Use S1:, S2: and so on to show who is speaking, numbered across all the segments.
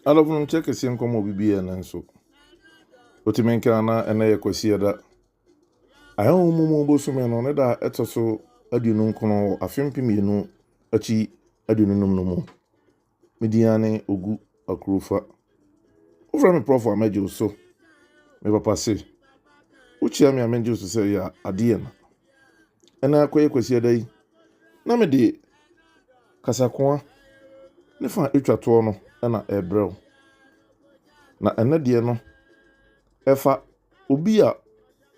S1: Adɔfo no nkyɛ kɛseɛ nkɔmɔ obi biara nanso wotumi nkena na ɛnɛ yɛ kwasi ɛda ahɛho mu mu bosome no ne da ɛtɔ so aduonu nkono wɔ afe mpem mmienu akyi aduonu num no mu Me din ane Ogu Akurufa. Wofrɛ me prɔfo a mɛgye wo so. Me papa se, wokyia me a mɛgye wo so sɛ yɛ adeɛ na. Ɛna akɔyɛ kwasiada yi, na mede kasakoa ne fa a ɛtwa toɔ no na ɛrebrɛ wo. Na ɛnɛ deɛ no, ɛfa obi a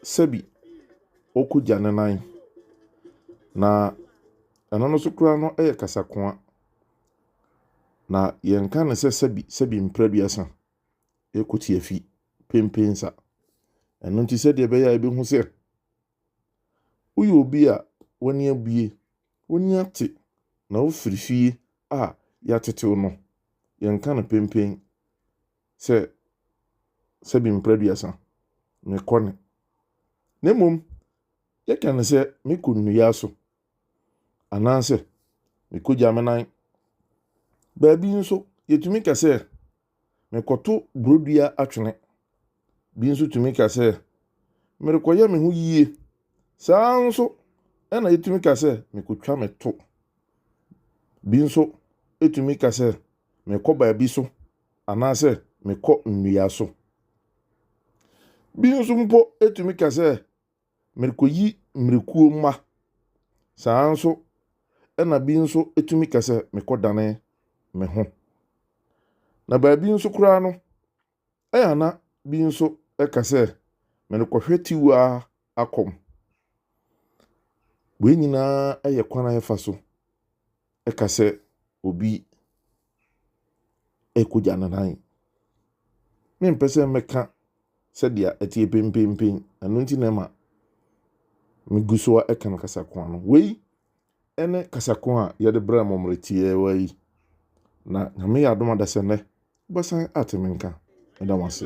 S1: sɛbi ɔkɔgya ne nan. Na ɛno no so koraa no yɛ kasakoa. Na yɛnka no sɛ sɛbi sɛbi mprɛduasa ɛkɔ tiafi pempensa. Ɛno nti sɛdeɛ ɛbɛyɛ a ɛbɛhu sɛ woyɛ obi a w'ani abue, w'ani ate na wofiri fie a yɛatetew no, yɛnka no pempen sɛ sɛbi mprɛduasa, mekɔ ne. Na mmom yɛka no sɛ mekɔ nnua so anaasɛ mekogya me nan. Baabi nso, yɛtumi ka sɛ mekɔto borodua atwene. Bi nso tumi ka sɛ merekɔyɛ me ho yie. Saa nso na yɛtumi ka sɛ mekɔtwa me to. Bi nso tumi ka sɛ mekɔ baabi so anaasɛ mekɔ nnua so. Bi nso mpo tumi ka sɛ Merekɔyi mmirikuo mma. Saa ara nso na bi nso tumi ka sɛ, Mekɔdane me ho. Na baabi nso koraa no, ɛyɛ a na bi nso ka sɛ, Merekɔhwɛ tiwa akɔm. Wei nyinaa yɛ kwan a yɛfa so ka sɛ obi rekogya ne nan. Mempɛ sɛ mɛka sɛdeɛ ɛteɛ penpenpen, ɛno nti na ɛma megu so ara ka no kasakoa no. Wei ne kasakoa a yɛde brɛ mo mmerɛ tiawa yi, na Nyame yɛ adom adasa nnɛ wobɛsan ate me nka. Meda mo ase.